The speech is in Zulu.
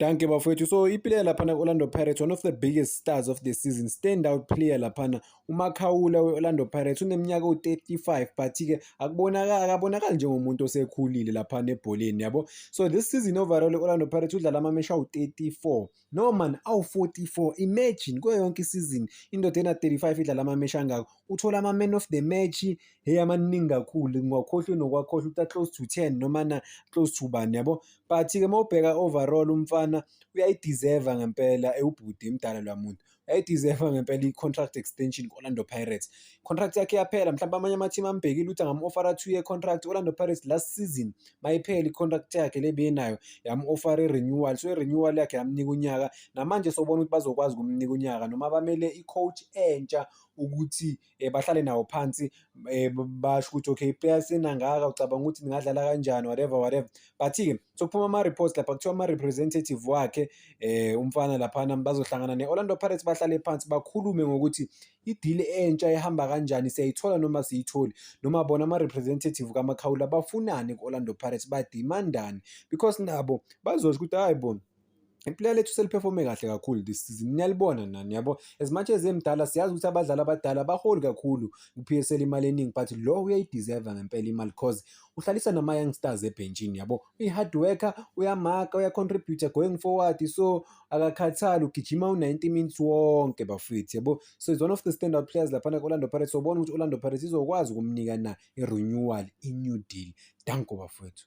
Danke bafowethu. So iplayer laphana ku-Orlando Pirates one of the biggest stars of the season stand out player laphana uMakhawula we-Orlando Pirates uneminyaka ewu-35 but-ke akubonakali akabonakali njengomuntu osekhulile laphana ebholeni yabo. So this season overall i-Orlando Pirates udlala amameshi awu-34 no man awu-44 imagine kuyo yonke isizini indoda ena-35 idlala amameshi angako uthole ama-man of the match hey amaningi kakhulu ngwakhohlwe nokwakhohlwa uta close to 10 noma na close to bani yabo but-ke uma ubheka overall umfana uyayideserve ngempela ewubhuti imdala lwa muntu uyayideserve ngempela i-contract extension ku-orlando pirates contract yakhe yaphela mhlawumbe amanye amathimu ambhekile ukuthi angam-ofara two year contract orlando pirates last season mayiphela i-contract yakhe le beyenayo yam-ofara i-renewal so i-renewal yakhe yamnika unyaka namanje sobona ukuthi bazokwazi ukumnika unyaka noma bamele i-coach entsha ukuthi um bahlale nawo phansi um basho ukuthi okay player senangaka ucabanga ukuthi ningadlala kanjani whatever whatever but-ke sokuphuma ama-reports lapha kuthiwa ama-representative wakhe um umfana laphana bazohlangana ne-orlando pirates bahlale phansi bakhulume ngokuthi idili entsha ihamba kanjani siyayithola noma siyitholi noma bona ama-representative kamakhawula bafunani ku-orlando pirates badimandani because nabo bazosho ukuthi hhayi bona iplayer lethu seliperforme kahle kakhulu this season niyalibona nani yabo as much as emdala siyazi ukuthi abadlali abadala baholi kakhulu ku-PSL imali eningi but lo uyayideserve ngempela imali because uhlalisa nama-young stars ebhentshini yabo uyi-hard worker uyamaka uyacontributa going forward so akakhathali ugijima u-90 minutes wonke bafethu yabo so is one of the standard players laphana ku-orlando pirates sobona ukuthi orlando pirates izokwazi ukumnika na i-renewal i-new deal danko bafethu